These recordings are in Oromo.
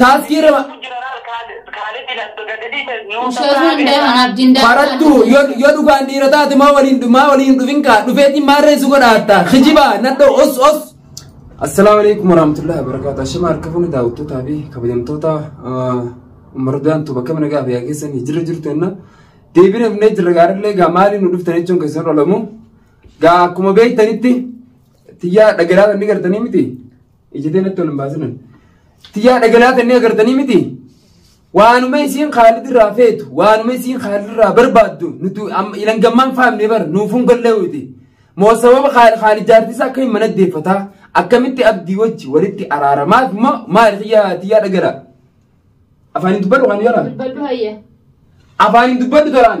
Taaskii rama Jeneraal Kaalid Laddo gadadii nuu Ustaazuma hin deeman abdiin daakuu. barattu yoo yoo dhugaan dhiira taate maa waliin maa waliin dhufin kaa dhufeetiin maa reessu godhaatta kijiba nadho os os. Assalaamu alaikum warahmatullahi wabarakatuh. Ashama harka fuuni daawwattootaa fi kabajamtoota ummaruudaan tuba akka mana gaafa yaa keessan jira jirtu enna deebiin hafnee jirra gaariillee gaa maaliin nu dhuftan jechuun keessan olamu gaa akkuma beektanitti tiyyaa dhagalaa inni gartanii miti Ijjatee natti ol hin baasinan. Tiyyaa dhagalaa tannee agartanii miti. Waanuma isiin Khaalid irraa feetu, waanuma isiin Khaalid irraa barbaaddu, nuti amma ilan gammaan faamne bar, nuufuun gallee witi. Moo sababa Khaal- Khaalid jaartisaa akka hin mana deeffataa, akkamitti abdii wajji walitti araaramaaf moo maali tiyyaa tiyyaa dhagalaa? Afaaniin dubbadhu kan yaalaa? Dubbadhu hayya. Afaaniin dubbadhu tolaan?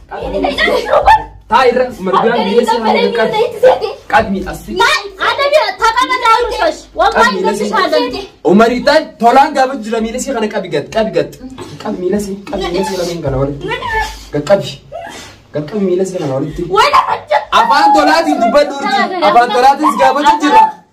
Taa irra margaan dhiyeessi haala qaqqabi. Qabi asfi. Umarii taan tolaan gaafa jira miilasi kana qabi gad qabi gad. Qabi miilasi qabi miilasi lameen kana walitti. Gad qabi. Gad qabi miilasi kana walitti. Afaan tolaatiin dubbadhu urjii. Afaan tolaatiin si gaafachuu jira.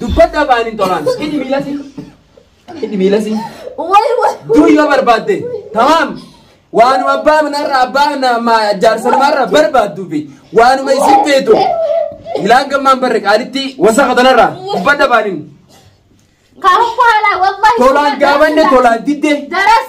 Dubbadhu afaan hin tolaan. Hidhi miilasii. Hidhi miilasii. Way way. Dur yoo barbaadde. Tamaam. Waanuma abbaa manarra abbaa nama jaarsa namarra barbaaddu fi waanuma isin feetu. Ilaan gammaan barre qaalitti wasaqa tanarra. Dubbadhu afaan hin. Kaafuu haalaa wallahi. Tolaan gaabanne tolaan didde. Daras.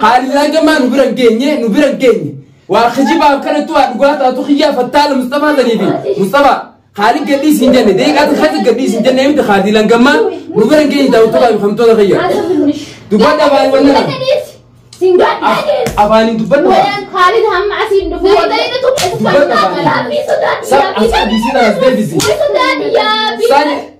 Haalilaa gamaa nu bira hin geenye nu bira hin geenye. Waa kijibaa akkanatti waa dhugaa taatu kiyyaa fattaala Mustafaa sanii fi Mustafaa haalli gadhii siin jenne deeqaa takkatti gadhii siin jenne miti haadilan gammaa nu bira hin geenye daawwattoota fi kamtoota kiyya. Dubbadha baay'ee wanna kana. Afaaniin dubbadha baay'ee. Dubbadha baay'ee. Sa as abisii tanas deebisi. Sani.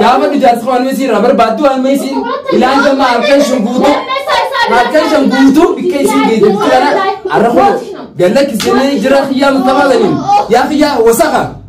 Gaafa ijaarsa waan meesii irraa barbaaddu waan meesii ilaalcha maa harkaan shan guutuu harkaan shan guutuu bikka isiin geejjibu kana arra kun galla kisanii jira kiyyaa mutamaa galiin yaa kiyyaa wasaka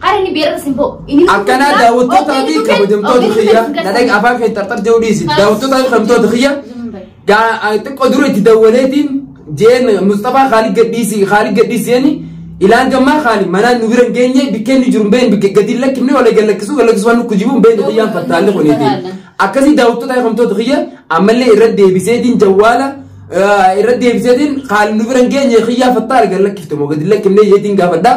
Hara inni beerata simboo. Inni Akkanaa simboo- daawwattootaa fi Ogeessi kabajamtoota ogeessi kiyya ogeessi na dhaga'a afaan kee xarxar jedhu dhiisi. Daawwattootaa fi kabajamtoota kiyya gaa a- xiqqoo dura itti dawwaleetiin jeen Mustafaa Khaalid gadhiisi Khaalid gadhiisi jeeni ilaan gammaa Khaalid manaan nu bira hin geenye bikkeen nu jiru hin beekne bikke gadi hin lakkifne wala gad lakkisuu gad lakkisuu waan nu kujibu hin beekne kiyyaan fattaalle kuniiti. Akkasii daawwattootaa fi kabajamtoota kiyya ammallee irra deebiseetiin jawwaala eh, irra deebiseetiin Khaalid nu bira hin geenye kiyyaa fattaale gad lakkifte moo gad hin lakkifne jeetiin gaafadhaa.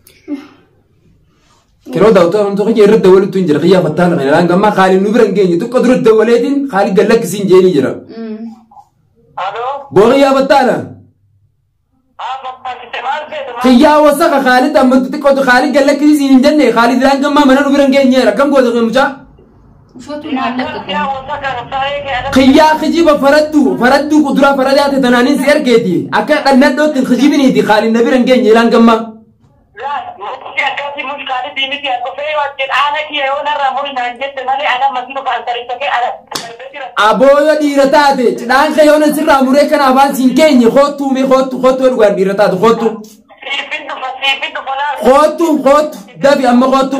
Yeroo daawwataa wantoota kiyya irratti dawwaluutu hin jira kiyyaa fattaala kana irraan gammaa kaaliin nu bira hin geenye xiqqoo dura dawwaleetiin kaalii gad lakkisiin jeenii jira. Alo, Boo kiyyaa fattaala amma fakkite maal seete maal? kiyyaa wasaka kaalii amma xiqqoo kaalii gad lakkisiin hin jenne kaalii irraan gammaa mana nu bira hin geenye akkam goota mucaa. Ufatu maal lakka Kiyyaa kijiba faraddu faraddu kuduraa faradaa te tanaanin si argeeti akka dhannadhootti hin kijibiniiti kaalin na bira hin geenye ilaan gammaa. Aboo yoo dhiira taate cidhaan kee yoo nan sirraa muree kana afaan siin keenye koottuu mee koottu koottu yoo dhugaan dhiira taate koottu koottu koottu dabi amma koottu.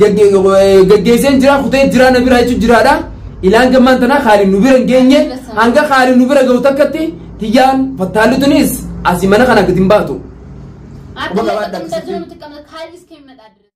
gaggeesseen jira kutee jira na bira jechuun jiraadha. Ilaan gammaan tanaa haali nu bira hin geenye hanga haali nu bira ga'u takkatti tiyyaan fattaalli tunis asii mana kana gadi hin baatu. Akka Obbo Gabaadhaa, gabaadhaa, akka gabaadhaa. haalli iskee hin madaallu.